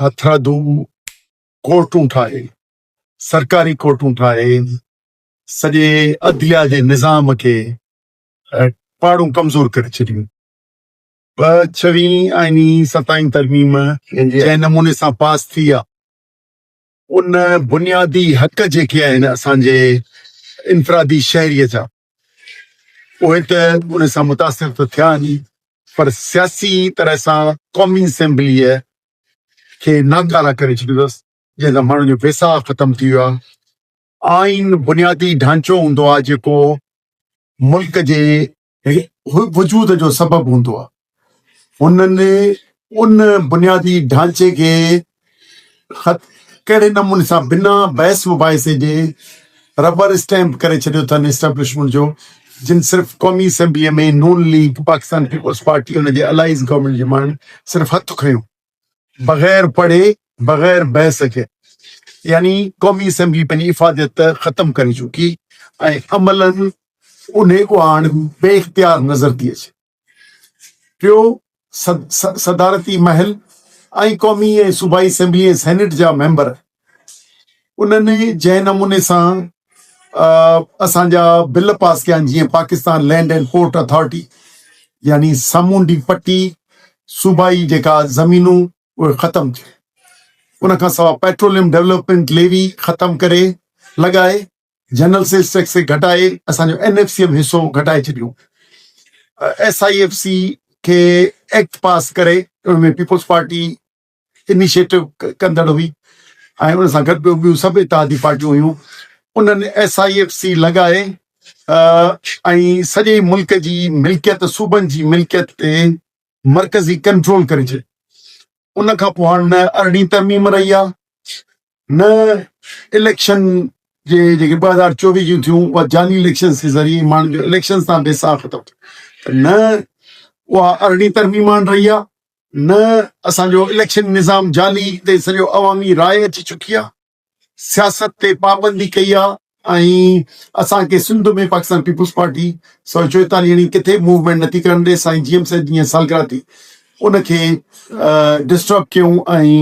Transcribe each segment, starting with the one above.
هٿرادو ڪورٽون ٺاهي، سرڪاري ڪورٽون ٺاهي، سڄي عدليا جي نظام کي پاڙون ڪمزور ڪري ڇڏيون. ٻه ڇوهين ۽ ستائين ترميم جنهن نموني سان پاس ٿي آ، ان بنيادي حق جيڪي آهن اسان جي انفرادي شهريء جا، اهي ته ان سان متاثر ته ٿيا آهن ئي پر سياسي طرح سان قومي اسيمبليء کي ناڪاره ڪري ڇڏيو اٿس، جنهن سان ماڻهن جو ويساهه ختم ٿي ويو آهي. آئين بنيادي ڍانچو هوندو آهي جيڪو ملڪ جي وجود جو سبب هوندو آهي انهن ان بنيادي ڍانچي کي ڪهڙي نموني سان بنا بحث مباحثي جي ربر اسٽيمپ ڪري ڇڏيو اٿن اسٽيبلشمينٽ جو جن صرف قومي اسيمبليء ۾ نون ليگ پاڪستان پيپلز پارٽي ان جي الائيز گورنمينٽ جي ماڻهن صرف هٿ کنيو بغير پڙهي بغير بحث جي يعني قومي اسيمبلي پنهنجي افاديت ختم ڪري چڪي ۽ عملا انهي کان هاڻ بي اختيار نظر ٿي اچي پيو صدارتي محل ۽ قومي ۽ صوبائي اسيمبلي ۽ سينيٽ جا ميمبر انهن ئي جنهن نموني سان اسان جا بل پاس ڪيا آهن جيئن Pakistan land and port authority يعني سامونڊي پٽي صوبائي جيڪا زمينون اهي ختم ٿيون ان کان سواء پيٽروليم ڊيولپمنٽ ليوي ختم ڪري لڳائي جنرل سيلز ٽيڪس کي گهٽائي اسانجو اين ايف سي ايم حصو گهٽائي ڇڏيو ايس آئي ايف سي کي ايڪٽ پاس ڪري ان ۾ پيپلز پارٽي انيشيٽو ڪندڙ هئي ۽ ان سان گڏ ٻيون ٻيون سڀ اتحادي پارٽيون هيون انهن ايس آء ايف سي لڳائي ۽ سڄي ملڪ جي ملڪيت صوبن جي ملڪيت تي مرڪزي ڪنٽرول ڪري ڇڏي ان کان پوء هاڻ نه ارڙهين ترميم رهي آهي نه اليڪشن جي جيڪي ٻه هزار چوويهه جون ٿيون اها جعلي اليڪشنز جي ذريعي ماڻهن جو اليڪشنز تان بيساهه ختم ٿيو ته نه اها ارڙهين ترميم آڻ رهي آهي نه اسان جو اليڪشن نظام جعلي تي سڄو عوامي راء اچي چڪي آهي سياست تي پابندي ڪئي آهي ۽ اسان کي سنڌ ۾ پاڪستان پيپلز پارٽي سؤ چوئيتاليهه يعني ڪٿي موومينٽ نٿي ڪرڻ ڏي سائين جي ايم سيد جي سالگرهه تي ان کي ڊسٽرب ڪيون ۽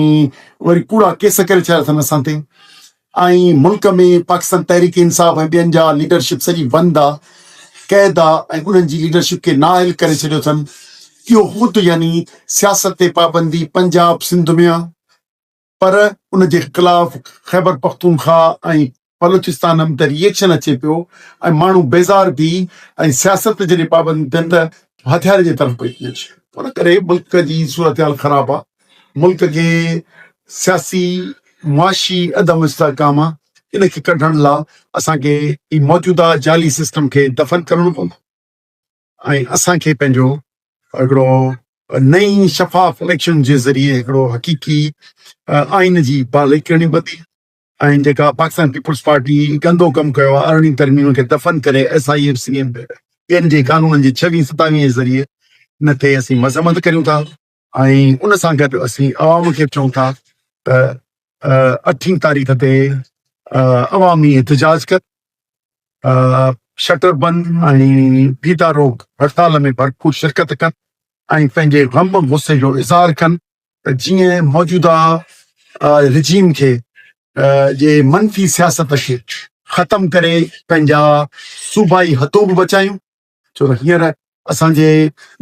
وري ڪوڙا ڪيس ڪري ڇڏيا اٿن اسان تي ۽ ملڪ ۾ پاڪستان تحريڪ انصاف ۽ ٻين جا ليڊرشپ سڄي بند آ قيد آ ۽ انهن جي ليڊرشپ کي نااهل ڪري ڇڏيو اٿن اهو خود يعني سياست تي پابندي پنجاب سنڌ ۾ آ پر ان جي خلاف خيبرپختونخوا ۽ بلوچستان هم ته ري ايڪشن اچي پيو ۽ ماڻهو بيزار ٿي ۽ سياست جڏهن پابند ٿين ته هٿيارن جي طرف پئي ٿي اچي. ان ڪري ملڪ جي صورتحال خراب آ، ملڪ جي سياسي معاشي عدم استحڪام آ، ان کي ڪڍڻ لا اسان کي هي موجوده جعلي سسٽم کي دفن ڪرڻو پوندو. ۽ اسان کي پنهنجو هڪڙو نئين شفاف اليڪشن جي ذريعي هڪڙو حقيقي آئين جي بحالي ڪرڻي پوندي ۽ جيڪا پاڪستان پيپلز پارٽي گندو ڪم ڪيو آهي ارڙهن ترميمن کي دفن ڪري ايس آئي ايف سي ۽ ٻين جي قانونن جي ڇويهين ستاويهين جي ذريعي ان تي اسين مذمت ڪريون ٿا. ۽ ان سان گڏ اسين عوام کي به چئون ٿا ته اٺين تاريخ تي عوامي احتجاج ڪن، شٽر بند ۽ ڦيٿا روڪ هڙتال ۾ ڀرپور شرڪت ڪن ۽ پنهنجي غم غصي جو اظهار ڪن ته جيئن موجوده رجيم کي جي منفي سياست کي ختم ڪري پنهنجا صوبائي حدود بچايون. ڇو ته هينئر اسان جي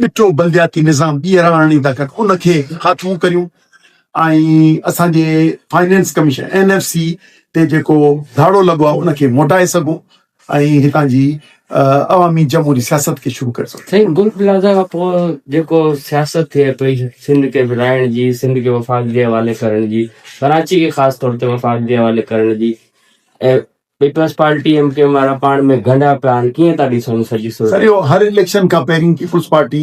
ڏٺو بلدياتي نظام ٻيهر آڻڻي ٿا ڪن ان کي خاتمو ڪريون ۽ اسان جي finance commission N F C تي جيڪو ڌاڙو لڳو آهي ان کي موٽائي سگهون ۽ هتان جي عوامي جمهوري سياست کي شروع ڪري سگهون. سائين گل پلازا کان پوء جيڪو سياست ٿئي پئي سنڌ کي ورهائڻ جي سنڌ کي وفاق جي حوالي ڪرڻ جي ڪراچي کي خاص طور تي وفاق جي حوالي ڪرڻ جي ۽ Peoples Party M Q M وارا پاڻ ۾ گنڍا پيا آهن ڪيئن ٿا ڏسن سڄي صورت سر اهو هر اليڪشن کان پهرين Peoples Party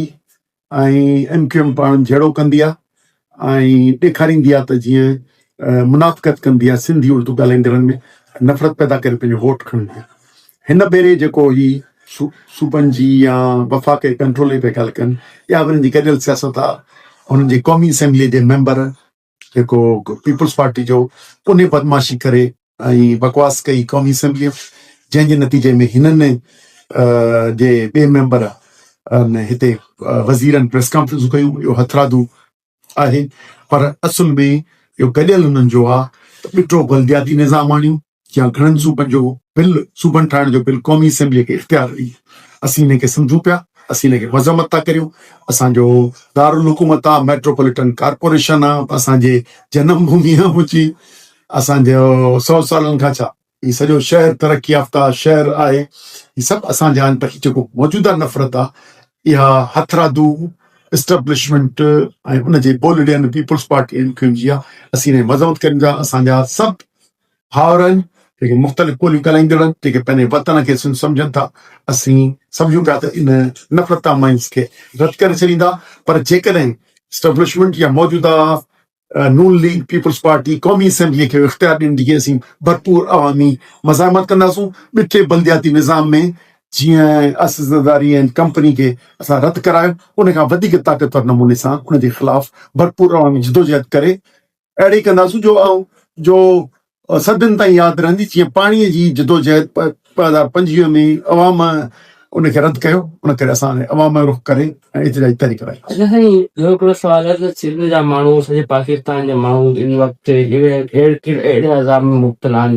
۽ M Q M پاڻ جهيڙو ڪندي آهي ۽ ڏيکاريندي آهي ته جيئن منافقت ڪندي آهي سنڌي اردو ڳالهائيندڙن ۾ نفرت پيدا ڪري پنهنجو ووٽ کڻندي آهي هن ڀيري جيڪو هي صوبن جي يا وفاقي ڪنٽرول جي پيا ڳالهه ڪن يا ورن جي گڏيل سياست آهي هنن جي قومي اسيمبلي جي ميمبر جيڪو پيپلز پارٽي جو انهي بدمعاشي ڪري ۽ بڪواس ڪئي قومي اسيمبليء ۾ جنهن جي نتيجي ۾ هنن جي ٻئي ميمبر ان هتي وزيرن پريس ڪانفرنسون ڪيون اهو هٿرادو آهي پر اصل ۾ اهو گڏيل انهن جو آ ٻٽو بلدياتي نظام آڻيون يا گهڻن صوبن جو بل، صوبن ٺاهڻ جو بل قومي اسيمبليء کي اختيار ڏئي. اسين ان کي سمجهون پيا، اسين ان کي مذمت ٿا ڪريون. اسان جو دارالحڪومت آ، ميٽروپوليٽن ڪارپوريشن آ، اسان جي جنم ڀومي آ منهنجي، اسان جو سئو سالن کان ڇا، هي سڄو شهر ترقي يافته شهر آهي، هي سڀ اسان جا آهن، پر جيڪو موجوده نفرت آ، اها هٿرادو اسٽيبلشمينٽ ۽ ان جي بولڙين Peoples Party M Q M جي آ، اسين ان جي مذمت ڪريون ٿا، اسان جا سڀ ڀائرن جيڪي مختلف ٻوليون ڳالهائيندڙن جيڪي پنهنجي وطن کي سنڌ سمجهن ٿا اسين سمجهون پيا ته ان نفرت آمائنس کي رد ڪري ڇڏيندا پر جيڪڏهن اسٽبلشمينٽ يا موجوده نون ليگ پيپلز پارٽي قومي اسيمبلي کي اختيار ڏيندي جي اسين ڀرپور عوامي مزاحمت ڪنداسون ٻٺي بلدياتي نظام ۾ جيئن اسزداري ۽ ڪمپني کي اسان رد ڪرايو ان کان وڌيڪ طاقتور نموني سان ان جي خلاف ڀرپور عوامي جدوجهد ڪري اهڙي ڪنداسون جو آئون جو صدين تائين ياد رهندي جيئن پاڻي جي جدوجهد ٻه هزار پنجويهه ۾ عوام ان کي رد ڪيو ان ڪري اسان هاڻي عوام جو رخ ڪري ۽ احتجاجي تحريڪ هلائيون. اچا سائين ٻيو هڪڙو سوال آهي ته سنڌ جا ماڻهو سڄي پاڪستان جا ماڻهو ان وقت اهڙي اهڙي عذاب ۾ مبتلا آهن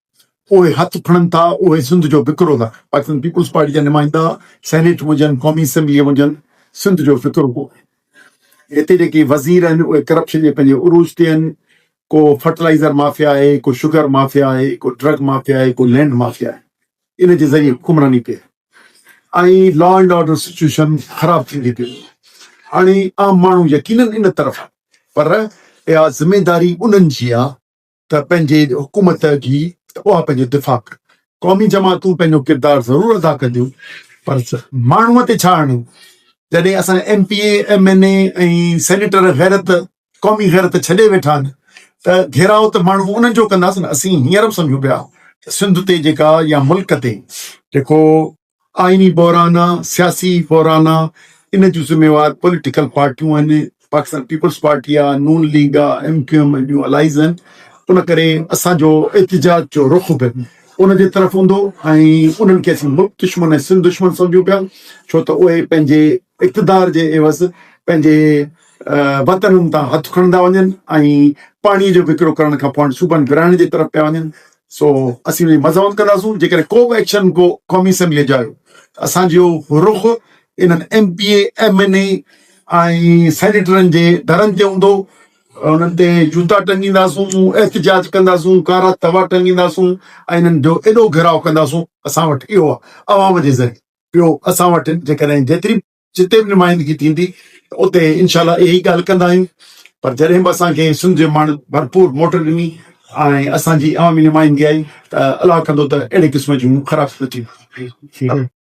اهي هٿ کڻن ٿا، اهي سنڌ جو فڪرو ٿا. پاڪستان پيپلز پارٽي جا نمائندا سينيٽ ۾ هجن، قومي اسيمبليء ۾ هجن، سنڌ جو فڪرو ڪو آهن. هتي جيڪي وزير آهن، اهي ڪرپشن جي پنهنجي عروج تي آهن. ڪو فرٽلائيزر مافيا آهي، ڪو شگر مافيا آهي، ڪو ڊرگ مافيا آهي، ڪو لينڊ مافيا آهي. ان جي ذريعي حڪمراني ڪئي ۽ لا اينڊ آرڊر سچوئيشن خراب ٿيندي پئي وڃي. هاڻي عام ماڻهو يقينن ان طرف آهن، پر اها ذميواري انهن جي آهي، ته پنهنجي حڪومت جي ته اها پنهنجو دفاع ڪن. قومي جماعتون پنهنجو ڪردار ضرور ادا ڪنديون پر ماڻهوء تي ڇا آڻيون جڏهن اسان جا M P A, M N A ۽ senator غيرت، قومي غيرت ڇڏي ويٺا آهن ته گهيراء ته ماڻهو انهن جو ڪنداسين. اسين هينئر به سمجهون پيا ته سنڌ تي جيڪا يا ملڪ تي جيڪو آئيني بحران، سياسي بحران ان جون ذميوار پوليٽيڪل پارٽيون آهن، پاڪستان پيپلز پارٽي آهي، نون ليگ آهي، ايم ڪيو ايم ۽ ٻيون الائيز آهن، ان ڪري اسان جو احتجاج جو رخ به ان جي طرف هوندو ۽ انهن کي اسين ملڪ دشمن ۽ سنڌ دشمن سمجهون پيا ڇو ته اهي پنهنجي اقتدار جي عيوض پنهنجي وطنن تان هٿ کڻندا وڃن ۽ پاڻي جو وڪرو ڪرڻ کان پوء هاڻي صوبن ورهائڻ جي طرف پيا وڃن سو اسين ان جي مذمت ڪنداسون جيڪڏهن ڪو به ايڪشن ڪو قومي اسيمبليء جا آيو ته اسان جو رخ انهن M P A M N A ۽ سينيٽرن جي درن تي هوندو انهن تي جوتا ٽنگينداسون احتجاج ڪنداسون ڪارا توا ٽنگينداسون ۽ انهن جو ايڏو گهيراء ڪنداسون اسان وٽ اهو عوام جي ذريعي ٻيو اسان وٽ جيڪڏهن جيتري جتي به نمائندگي ٿيندي ته اتي انشاء الله اها ئي ڳالهه ڪندا آهيون پر جڏهن به اسان کي سنڌ جي ماڻهن ڀرپور موٽ ڏني ۽ اسان جي عوامي نمائندگي آئي ته الله ڪندو ته اهڙي قسم جون خرابيون نه ٿينديون